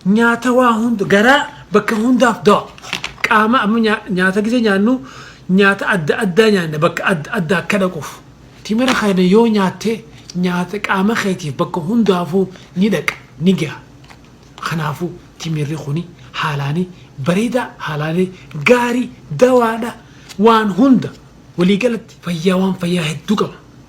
Nyaata waa hunda garaa bakka hundaaf dawa. Qaama amma nyaa- nyaata gisee nyaannu nyaata adda addaa nyaanna bakka adda addaa akka dhaquuf. Timira kana yoo nyaatte nyaata qaama keetiif bakka hundaafuu ni dhaqa ni gaha. Kanaafuu timirri kuni haalaani bareedaa haalaani gaarii dawaadha waan hunda waliigalatti fayyaa waan fayyaa hedduu qaba.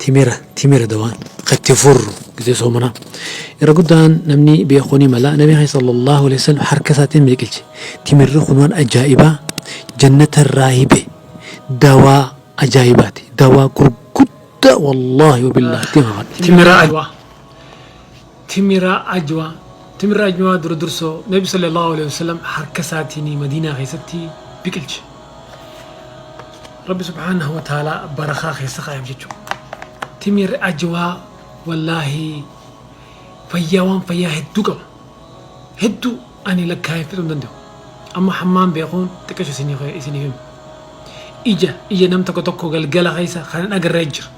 Timira Timira dawaan ka itti furru gizee soomanaa irra guddaan namni beekuu ni mala nabii keenya sallallahu alaihi wasallam harka isaatiin miliqilche timirri kun waan ajaa'ibaa jannata irraa hibe dawaa ajaa'ibaati dawaa gurguddaa wallaahi wabillaah ittiin kakadha Timira Adwaa Timira Ajwa, Timirri Ajwaa dura dursoo Nabi Sallallaahu aleyhi wa sallam harka isaatiini Madiinaa keessatti biqilche. Rabbi subhaanahu wa ta'aalaa barakaa keessa kaayef jechu. Timirri Ajwaa wallaahi fayyaa waan fayyaa hedduu qaba. Hedduu ani lakkaayeen fixuu hin danda'u. Amma hammaan beekuun xiqqasho isiniif hima. Ija ija nam tokko tokko galgala keessa kan hin agarre jira.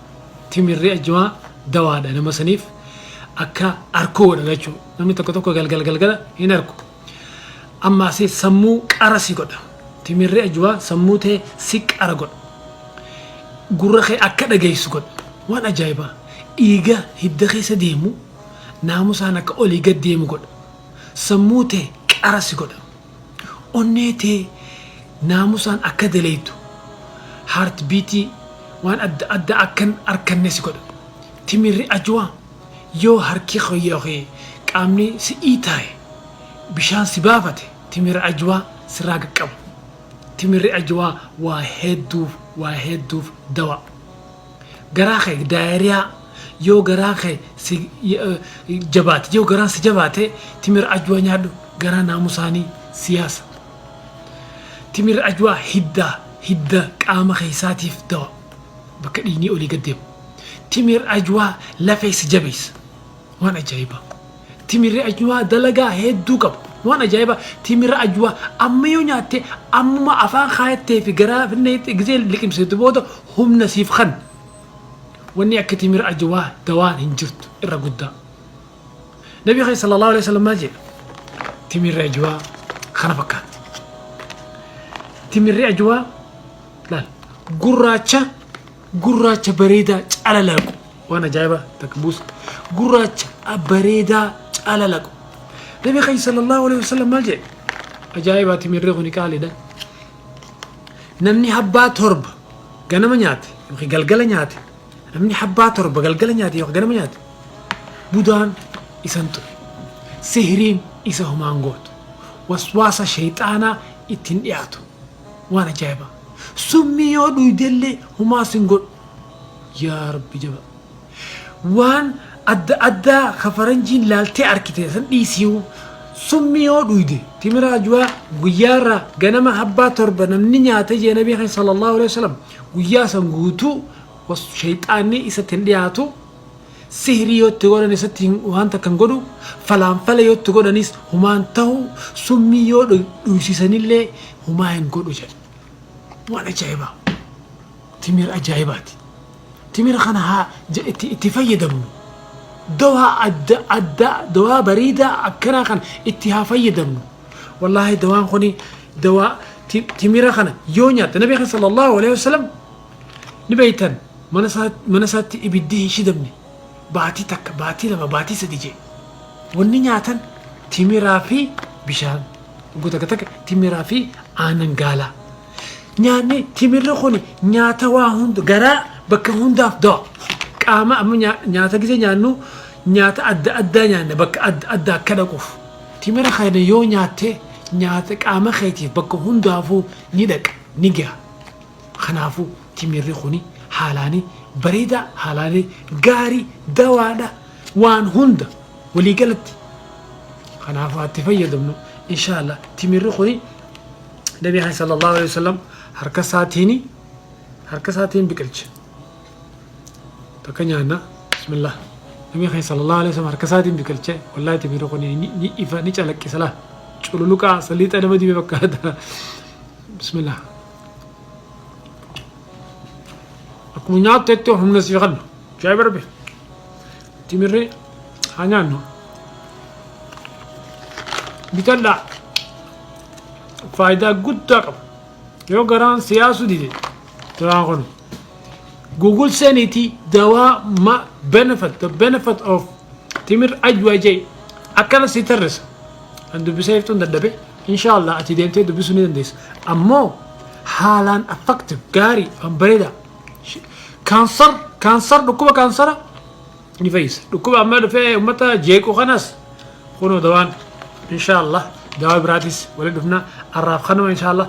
Timirri ajjwaa dawaadha nama saniif akka arkuu godha lachuu namni tokko tokko galgal galgala hin arku amma asi sammuu qara si godha timirri ajjwaa sammuu tee si qara godha gurra kee akka dhageessu godha waan ajaa'ibaa dhiiga hidda keessa deemu naamusaan akka olii gad deemu godha sammuu tee qara si godha Onnee tee naamusaan akka dalaydu, heartbeat, waan adda addaa akka hin arkanne si godha. Timirri Ajwa, Yoo harki kee ykn qaamni si dhiitaaye, bishaan si baafate, timira Ajwa sirraa qaqqaba. Timirri Ajwa waa hedduuf, waa hedduuf dawaa. Garaa kee diarrhea yoo garaan kee si jabaate yoo garaan si jabaate timira ajwaa nyaadhu garaa naamusaani si yaasa timira ajwaa hidda hidda qaama keessaatiif dawa bakka dhiignii olii gad deemu timira ajwaa lafee si jabeessa Waan ajaibaa Timiri Ajwaa dalagaa hedduu qaba waan ajaibaa Timira Ajwaa amma yoo nyaatte ammuma afaan kaayattee fi garaa finneetti gizee liqimsitu booda humna siif kanna wanni akka Timira Ajwaa dawaan hin jirtu irra guddaa Nabi keenya sallallahu aleyhi wasallam maal jedha Timirri Ajwaa kana fakkaatti Timirri Ajwaa laal gurraacha Gurraacha bareedaa calalaqu. Waan ajaa'ibaa takka buusa. Gurraacha bareedaa calalaqu. Nabi Khayy sallallahu alaihi wasallam maal jedhe? Ajaa'ibaa timirri kuni qaaliidha. Namni habbaa torba ganama nyaate yookiin galgala nyaate namni habbaa torba galgala nyaate yookiin ganama nyaate budaan isan ture. Sihiriin isa homaan gootu. Waswaasa shayxaanaa ittiin dhiyaatu. Waan ajaa'ibaa. Summii yoo dhuydellee homaa sin godhu. Yaa Rabbi jabaa. Waan adda addaa ka faranjiin laaltee arkite san dhiisiiyu. Summii yoo dhuyde timira ajuwaa guyyaarraa ganama habbaa torba namni nyaate jee nabii keenya sallallahu alaihi wasallam guyyaa san guutuu was shayxaanni isatti hin dhiyaatu. Sihrii yoo itti godhan isatti hin waan takka hin godhu, falaanfala yoo itti godhanis humaa hin tahu, summii yoo dhu- dhuysiisanillee humaa hin godhu jedhe. Waan ajaa'ibaa! Timira ajaa'ibaati. Timira kana haa ja- itti, itti fayyadamnu. Dawaa adda addaa, dawaa bareedaa akkanaa kana itti haa fayyadamnu. Wallaahi dawaan kuni dawaa ti- timira kana yoo nyaatte Nabi keenya sallallahu alaihi wasallam Ni beektan, mana isaa, mana isaatti ibiddi hin shidamne. Baatii takka, baatii lama, baatii sadi jee. Wanni nyaatan timiraa fi bishaan. Hogguu takka takka timiraa fi aanan gaalaa. Nyaanni timirri kuni nyaata waa hunda, garaa bakka hundaaf dawa. Qaama amma nyaa- nyaata gisee nyaannu nyaata adda addaa nyaanna bakka adda addaa akka dhaquuf. Timira kana yoo nyaatte nyaata qaama keetiif bakka hundaafuu ni dhaqa, ni gaha. Kanaafuu timirri kuni haalaani bareedaa haalaani gaarii dawaadha waan hunda walii galatti kanaafuu haa itti fayyadamnu inshaalla timirri kuni nabi haa sallallahu alaihi wasallam harka isaatiini harka isaatiin biqilche takka nyaanna bismillah nabi haa sallallahu alaihi wasallam harka isaatiin biqilche wallahi timirri kuni ni ni ifa ni calaqqisa laa cululuqaa saliixa nama dibe fakkaata bismillah akkuma nyaattetti humna sii kenna shaayii barbe timirri haa nyaannu bitadhaa faayidaa guddaa qaba yoo garaan siyaasuu dide duraan kun google seeniti dawaa ma benefit the benefit of timir ajwajay akkana si tarrisa an dubbisee iftuun dadhabe Inshaa Allah ati deemtee dubbisuu ni dandeessa. Ammoo haalaan effective gaarii waan bareeda. Kaansar kaansar dhukkuba kaansara ni fayyisa. Dhukkuba amma dhufee uummata jeequ kanas kunoo dawaan inshaa Allah dawaa biraatis waliin dhufna arraaf kanuma inshaa Allah.